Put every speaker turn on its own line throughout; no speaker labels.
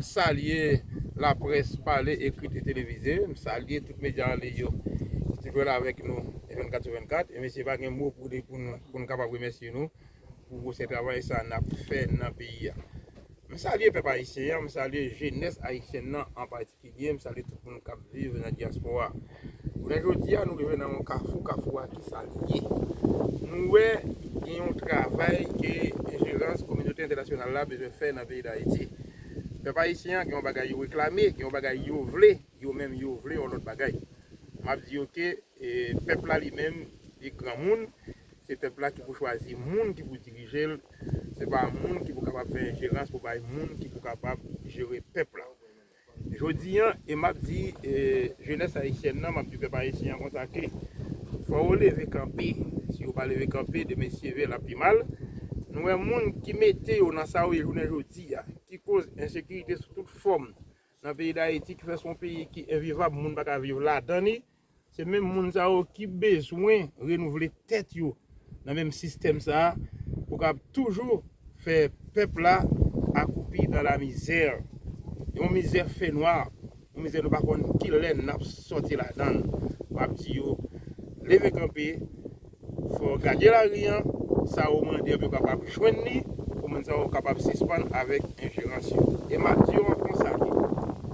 M salye laprès pale, ekrit e televize. M salye tout medya anliy yo ki toujou la avèk nou 24 sou 24. E mesye pa gen mo pou di pou n kapab remèsye nou pou gwosè travay sa n ap fè nan peyi a. M salye pèp ayisyen an, m salye jenès ayisyèn nan an patikilye, m salye tout moun k ap viv nan dyaspora. Jounen jodi a nou rive nan yon kafou, kafou a kisa li ye? Nou wè gen yon travay ke enjerans kominote entènasyonal la bezwen fè nan peyi Dayiti. Pèp ayisyen an gen yon bagay yo reklame, gen yon bagay yo vle, yo menm yo vle yon lòt bagay. M ap di yo ke pèp la li menm li granmoun, se pèp la ki pou chwazi moun ki pou dirije l, se pa moun ki pou kapab fè enjerans pou bay moun ki pou kapab jere pèp la. Jodi an e map di jenès ayisyèn nan map di pèp ayisyen an konsa ke fò yo leve kanpe si yo pa leve kanpe demen si ve lap pi mal nou wè moun ki mete yo nan sa yo ye jounen jodi a ki koz ensekirite sou tout fòm nan peyi dayiti ki fè son peyi ki envivab moun paka viv ladan li Se menm moun sa yo ki bezwen renouvle tèt yo nan menm sistèm sa a pou kab toujou fè pèp la akoupi dans la misère. Yon mizè fè nwa, yon mizè nou pa konn kilè n ap sòti ladan l. M ap di yo leve kanpe. Fò gade lari an, sa ou mande ap yo kapab jwenn li, pou moun sa yo kapab sispann avèk enjerans yo. E m ap di yo ankò sa tou,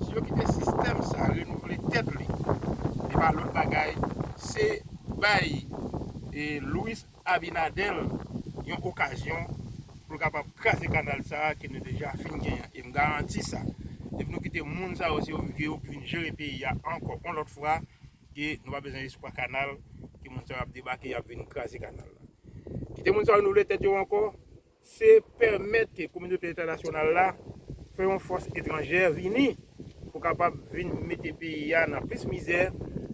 si yo kite sistèm sa renouvle tèt li, li pa lòt bagay, se bay Luis Abinader yon okazyon pou l kapab kraze kanal sa a ke nou deja fin gen an. E m garanti sa, depi nou kite moun sa yo se yo ki vin jere peyi a ankò yon lòt fwa, Ke nou pa bezwen espwa kanal ke moun sa yo ap debake yap vin kraze kanal la. Kite moun sa yo renouvle tèt yo ankò, se pèmèt ke kominote entènasyonal la fè yon fòs etranjè vini pou kapab vin mete peyi a nan plis mizè,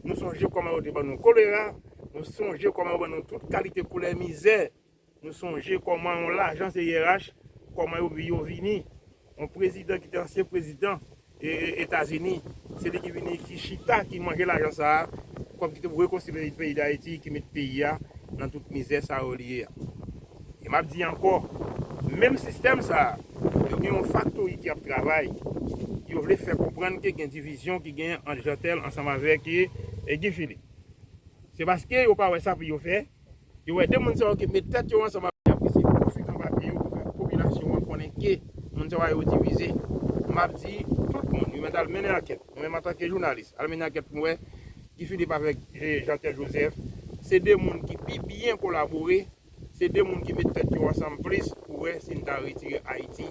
nou sonje kòman yo te ban nou kolera, nou sonje kòman yo ban nou tout kalite koulè mizè. Nou sonje kòman yon lajan se yerach, kòman yo yo vini. Yon prezidan ki te ansyen prezidan Etazini, se li ki vini ki chita ki manje lajan sa a, kòb ki te pou rekonstwi peyi Dayiti ki met peyi a nan tout mizè sa yo li ye a. E m ap di ankò, menm sistèm sa a, yo gen yon faktori ki ap travay, yo vle fè konprann ke gen divizyon ki genyen ant Jeantel ansanm avèk Guy Philippe. Se paske yo pa wè sa pou yo fè. Yo wè 2 moun sa yo ke met tèt yo ansanm avèk Yap eseye konstwi kan papye yo pou fè popilasyon an konnen ke moun sa yo divize. Map di tout moun yo mèt al mennen ankèt. Nou menm antanke jounalis al mennen ankèt pou n wè Guy Philippe avèk Jean Pierre Joseph se 2 moun ki pi byen kolabore, se 2 moun ki met tèt yo ansanm plis pou wè si n ta retire Ayiti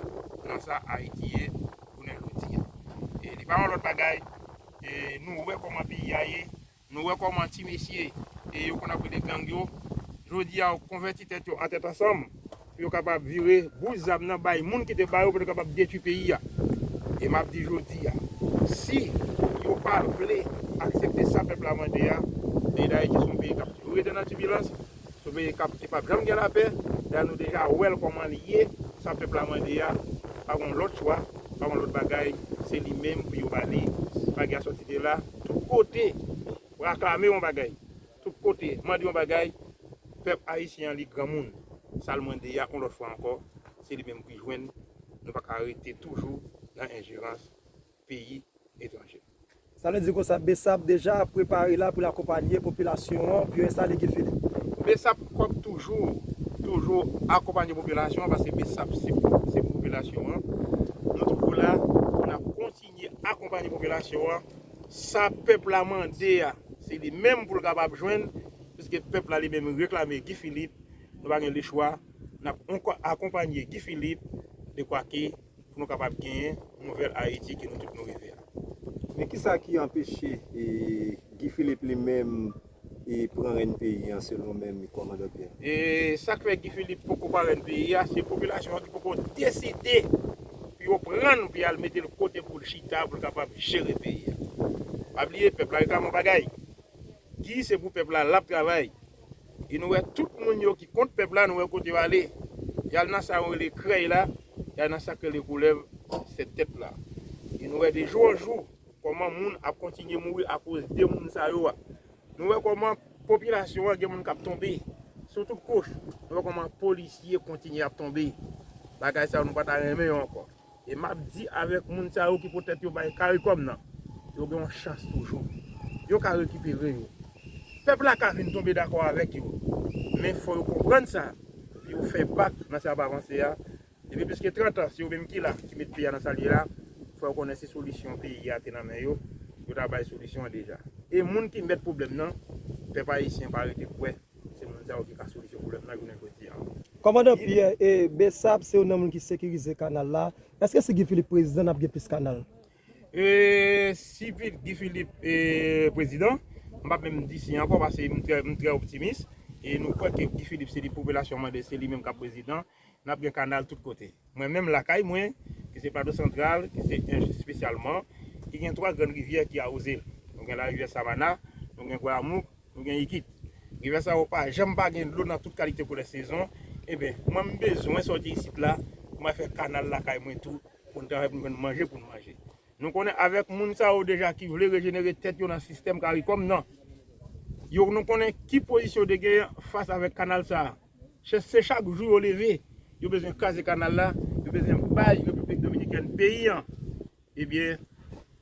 nan sa Ayiti ye jounen jodi a. Li pa yon lòt bagay, nou wè kòman peyi a ye, Nou wè kòman ti mesye yo konn ap rele gang yo, jodi a yo konvèti tèt yo an tèt ansanm pou yo kapab vire boul zam nan bay moun ki te ba yo pou yo te kapab detwi peyi a. E m ap di jodi a, si yo pa vle aksepte sa pèp la mande a, peyi Dayiti se yon peyi k ap toujou rete nan tibilans, Son peyi kap ki pap janm gen lapè da nou deja wèl kòman li ye sa pèp la mande a pa gon lòt chwa pa gon lòt bagay se li menm pou yo bali bagya sòti de la tout kote raklame yon bagay tout kote mande yon bagay pèp ayisyen an li granmoun sal mande ya yon lòt fwa ankò se li menm pou jwenn nou paka rete toujou nan enjerans peyi etranje. Sa vle di konsa
bsap deja ap prepare la pou l akonpanye popilasyon an pou yo enstale Guy Philippe. Bsap kòp
toujou toujou akonpanye popilasyon an paske bsap se pou popilasyon an. Nou toujou la pou n ap kontinye akonpanye popilasyon an. Sa pèp la mande a se li menm pou l kapab jwenn piske pèp la li menm reklame Guy Philippe. Nou pa gen lechwa n ap akonpanye Guy Philippe dekwake. pou nou kapab genyen nouvèl Ayiti ke nou tout nou reve a. Men kisa
ki anpeche Guy Philippe li menm pran rèn peyi an selon menm Kòmandan Pierre? E sak fè Guy
Philippe poko pran rèn peyi a, se popilasyon an ki poko deside pou yo pran l pou yal mete l kote pou l chita pou l kapab jere peyi a. Pa bliye pèp la reklame yon bagay. Guy se pou pèp la lap travay. E nou wè tout moun yo ki kont pèp la nou wè kote yo ale. Yal nan sa yo rele krèy la, yal nan sak rele koulèv 7 tèt la. E nou wè de jou an jou kòman moun ap kontinye mouri akoz de moun sa yo a. Nou wè kòman popilasyon an gen moun kap tonbe sou tout kouch. Nou wè kòman polisye kontinye ap tonbe. Bagay sa yo nou pata renmen yo ankò. E map di avèk moun sa yo ki poutèt yo bay caricom nan, yo gen yon chans toujou. Yo ka rekipere yo. Pèp la ka vin tonbe dakò avèk yo. Men fò yo konprann sa, epi yo fè bak nan sa yap avanse a. Depi plis ke 30 an, se yo menm ki la, ki met peyi a nan sal ye la. Fò yo konnen si solisyon peyi a te nan men yo, yo ta bay solisyon an deja. E moun ki mèt pwoblèm nan, pèp ayisyen pa rete kwè. Se moun sa yo ki ka solisyon pwoblèm nan jounen jodi a. Kòmandan Pyè,
e Bsap se youn nan moun ki sekirize kanal la, èske si Guy Philippe prezidan n ap gen plis kanal? E
si Guy Philippe prezidan, m p ap menm di si ankò paske m trè optimis, e nou kwè ke Guy Philippe se li popilasyon mande se li menm k ap prezidan, Nap gen kanal tout kote. Mwen menm lakay mwen, ki se Plato Santral, ki se Ench espesyalman, ki gen 3 grann rivyè ki awoze l. Nou gen larivyè Savana, nou gen Gwayamouk, nou gen Yikit. Rivyè sa yo pa janm pa gen dlo nan tout kalite koulè sezon. Enben, mwen m bezwen sòti isit la pou m al fè kanal lakay mwen tou pou n travay pou n jwenn manje pou n manje. Nou konnen avèk moun sa yo deja ki vle rejenere tèt yo nan sistèm caricom nan, yo nou konnen ki pozisyon yo te genyen fas avèk kanal sa a. Se chak jou yo leve yo bezwen kraze kanal la yo bezwen bay repiblik dominikèn peyi an ebyen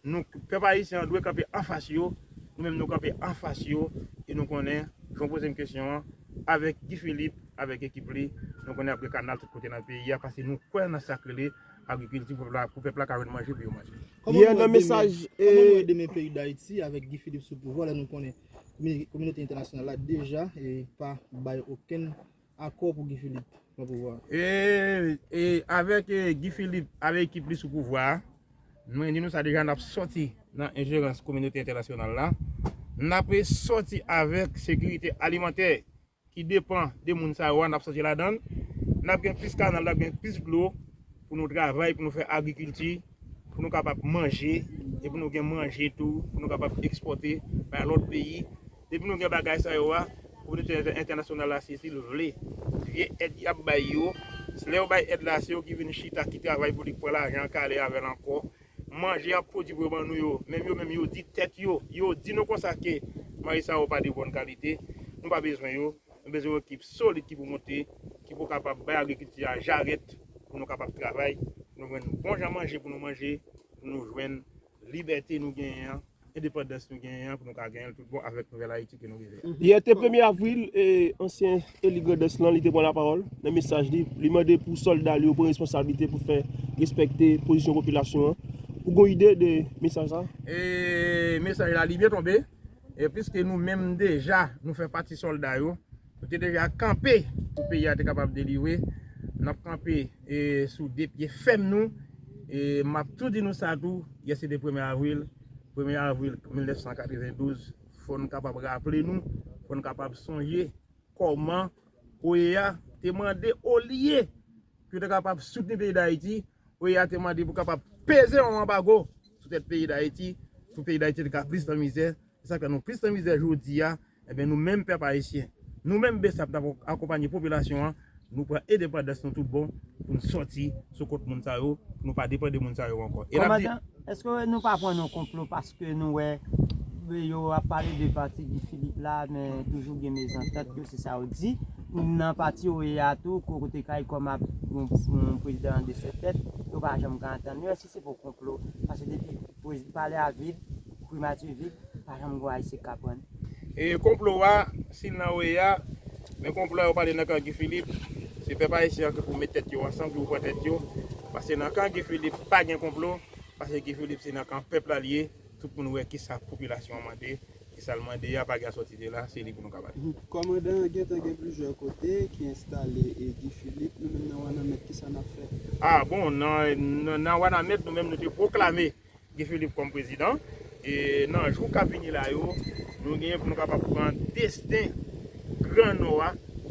nou pèp ayisyen an dwe kanpe anfas yo nou menm nou kanpe anfas yo e nou konnen jan w poze m kesyon an avèk Guy Philippe avèk ekip li nou konnen ap gen kanal tout kote nan peyi a paske nou kwè nan sa k rele agrikilti pou pèp la ka jwenn manje pou yo manje. Kòman nou wè
demen peyi
dayiti avèk Guy Philippe sou pouvwa lè nou konnen Kominote entènasyonal la deja pa bay okenn akò pou Guy Philippe pran pouvwa a.
Avèk Guy Philippe ak ekip li sou pouvwa a, mwen di nou sa deja, n ap sòti nan enjerans kominote entènasyonal la. N ap sòti avèk sekirite alimantè ki depan de moun sa yo a n ap sòti ladan l, n ap gen plis kanal, n ap gen plis dlo pou nou travay, pou nou fè agrikilti, pou nou kapab manje e pou nou gen manje tou pou nou kapab ekspòte bay lòt peyi. Depi nou gen bagay sa yo a, kominote entènasyonal la sezi l vle. Vye èd y ap bay yo, lè yo bay èd la se yo ki vin chita, ki travay pou li, ki pran lajan an, ki ale avè l ankò. Manje yap pwodwi pou yo ban nou yo, menm yo menm yo di tèt yo, yo di nou konsa ke manje sa yo pa de bòn kalite, nou pa bezwen yo, nou bezwen yon ekip solid ki pou monte, ki pou kapab bay agrikilti a jarèt pou nou kapab travay, pou nou jwenn bon jan manje pou nou manje, pou nou jwenn libète nou genyen an. endepandans nou genyen an pou nou ka genyen l tout bon avèk nouvèl Ayiti ke nou rive a. Yè te premye avril,
ansyen eli Grandans lan li te pran lapawòl nan mesaj li, li mande pou sòlda li yo pran responsablite pou fè respekte pozisyon popilasyon an. Ou gen yon ide de mesaj sa? E
mesaj la li byen tonbe, piske nou menm deja nou fè pati sòlda yo. Nou te deja kanpe pou peyi a te kapab delivre. N ap kanpe sou 2 pye fèm nou. E m ap tou di nou sa tou, yè se te premye avril. Premye avril 1992, fò n kapab raple nou, fò n kapab sonje kòman OEA te mande olye pou yo te kapab soutni peyi Dayiti, OEA te mande pou kapab peze yon anbago sou tèt peyi Dayiti, pou peyi Dayiti te ka plis nan mizè, Se sa k fè nou plis nan mizè jodi a. Enben, nou menm pèp ayisyen, nou menm bsap n ap akonpanye popilasyon an, nou pran endepandans nou tout bon pou n soti sou kont moun sa yo, pou nou pa depann de moun sa yo ankò. E n ap di. Èske
nou pa pran nan konplo paske nou wè yo ap pale de pati Guy Philippe la men toujou gen mezantant yo se sa yo di nan pati yo ye a tou kote caricom ap gen yon prezidan an 2 sèt tèt yo pa janm ka antann yo? Se pou konplo, paske depi palè a vid, primati vid, pa janm gon ayisyen k aprann. E konplo
a, si l nan OEA, men konplo a yo pale nan kan Guy Philippe, se pèp ayisyen an ki pou met tèt yo ansanm, ki pou pran tèt yo, paske nan kan Guy Philippe pa gen konplo, paske Guy Philippe se nan kan pèp la l ye. Tout moun wè kisa popilasyon an mande, e sa l mande a pa gen sòti de la, se li pou nou ka bat. Kòmandan an gentan
gen plizyè kote ki enstale e Guy Philippe nou menm nan Wananment kisa nap fè? A bon
nan Wananment nou menm nou te pwoklame Guy Philippe kòm prezidan e nan jou kap vini la yo nou genyen pou nou kapab pran desten gran nò a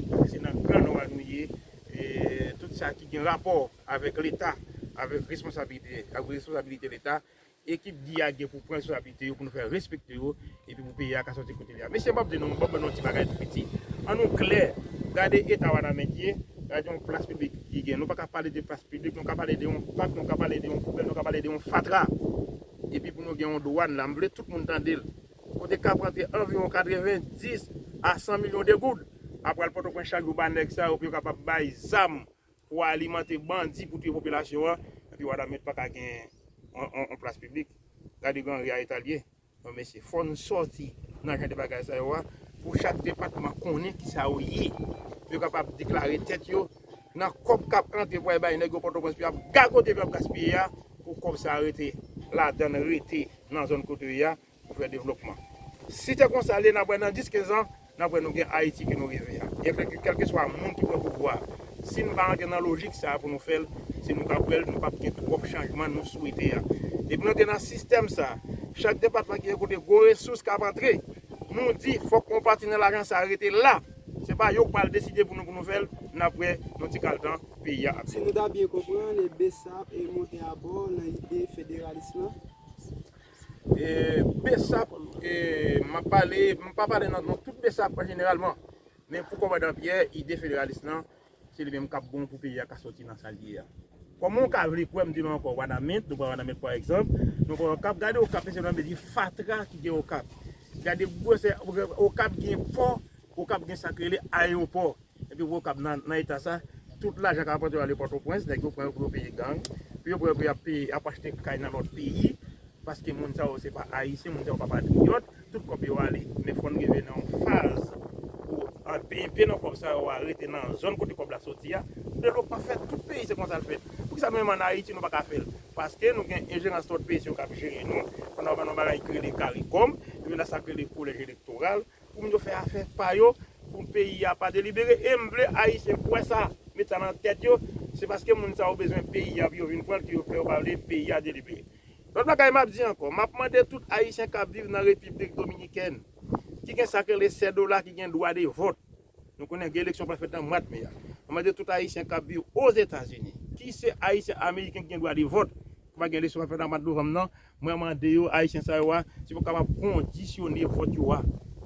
paske se nan gran nò a nou ye e tout sa ki gen rapò avèk leta avèk responsabilite leta Ekip Guy a gen pou pran responsabilite yo pou nou fè respekte yo epi pou peyi a ka sòti kote li a. Mesye m pap di nou, m pap ban nou yon ti bagay tou piti. An nou klè, gade eta Wanament ye, gade yon plas piblik li gen. Nou pa ka pale de plas piblik, nou ka pale de yon pak, nou ka pale de yon poubèl, nou ka pale de yon fatra. Epi pou nou gen yon dwàn la, m vle tout moun tande l, kote k ap rantre anviwon 90 a 100 milyon de goud ap pral Pòtoprens chak jou ba nèg sa yo pou yo kapab bay zam Pou alimante bandi pou tiye popilasyon an epi wada met paka gen yon plas piblik gade gran ri a etal ye non mesye fòn sòti nan jan de bagay sa yo a pou chak depatman konnen kisa yo ye pou yo kapab deklare tèt yo nan kòb kap antre pou al bay nèg yo pòtoprens pou yap gagote pou yap gaspiye a pou kòb sa rete ladann rete nan zòn kote yo ye a. Pou fè devlopman. Si te konsa lye nap wè nan 10 15 an nap wè nou gen ayiti ke nou reve a. Byen klè ke kelkeswa moun ki pran pouvwa si nou pa antre nan lojik sa pou nou fèl se nou kap wèl nou pap gen twòp chanjman nou swete a. Depi nou antre nan sistèm sa chak depatman ki gen kote gwo resous kap antre nou di fòk yon pati nan lajan sa rete la se pa yo k pral deside pou nou pou nou fèl nap wè nan ti kal tan peyi a ap. Si nou ta byen
konprann e bsap e monte abò nan ide federalis lan.
Bsap m ap pale, m pa pale nan non tout bsap an jeneralman, men pou kòmandan Pyè, ide federalis lan, se li menm k ap bon pou peyi a ka sòti nan sa l ye a. Kòman w ka vle kwè m di nou ankò Wanament, nou pran Wanament pa egzanp, nou pran Okap, gade Okap mesye dam mesye fatra ki gen Okap, gade gwosè Okap, Okap gen pò, Okap gen sa k rele ayewopò. Epi wè okap nan eta sa, tout lajan kap rantre yo ale pòtoprens, nèg yo pran yo pou yo peye gang, pou yo pran yo pou yap peye yap achte kay nan lòt peyi, paske moun sa yo se pa ayisyen, moun sa yo pa patriyòt, tout kòb yo ale, men fòn rive nan yon faz pou an pye nan kòb sa yo a rete nan zòn kote kòb la soti a, devlop pa fèt, tout peyi se konsal fèt, poukisa nou menm an ayiti nou paka fèl, paske nou gen enjerans lòt peyi se yo kap jere nou, pandan wap nan yon bagay ki rele karikòm, epi nan sak rele kolèj elektoral. pou moun yo fè afè pa yo pou peyi a pa delibere e m vle ayisyen kwè sa met sa nan tèt yo se paske moun sa yo bezwen peyi a pou yo vin pran l ke yo fè yo pa vle peyi a delibere lòt bagay map di ankò map mande tout ayisyen kap viv nan repiblik dominikèn ki gen sak rele sèdola ki gen dwa de vòt nou konnen gen eleksyon pral fèt nan mwad me a map mande tout ayisyen kap viv ozetazini ki se ayisyen ameriken ki gen dwa de vòt ki pa gen eleksyon pral fèt nan mwad novanm nan Mwen mande yo, Ayisyen sa yo a, si pou kapab kondisyone vòt yo a,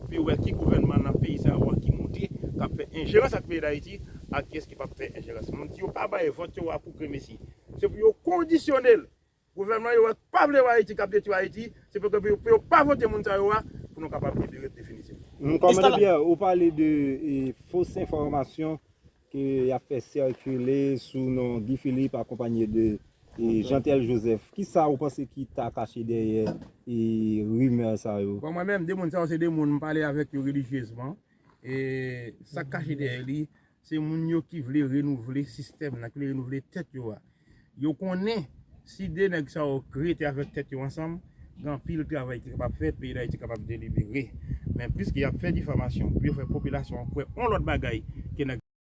pou yo wè ki gouvènman nan peyi sa yo a ki moute, k ap fè enjerans ak peyi Dayiti, ak kiyès ki p ap fè enjerans. Mwen di yo pa bay vòt yo a pou gremesi. Se pou yo kondisyone l. Gouvènman yo a k pa vle wè Ayiti, k ap detwi Ayiti, se pou ke pou yo pa vote moun sa yo a, pou nou kapab libere definitivman. Kòmandè Pierre,
ou pale de fos enfòmasyon ke y ap fè sikile sou non Guy Philippe akonpanye de Jeantel Joseph. Ki sa ou panse ki ta kache dèyè rimè sa yo? Bon, mwen menm, de moun sa yo
se de moun m pale avèk yo relijyezman. E sa k kache dèyè li, se moun yo ki vle renouvle sistèm nan, ki vle renouvle tèt yo a. Yo konnen si de nèg sa yo rete avèk tèt yo ansanm, gen anpil travay ki kapab fèt, peyi Dayiti kapab delibere. Men, piske y ap fè difamasyon pou yo fè popilasyon an kwè yon lòt bagay ke nèg.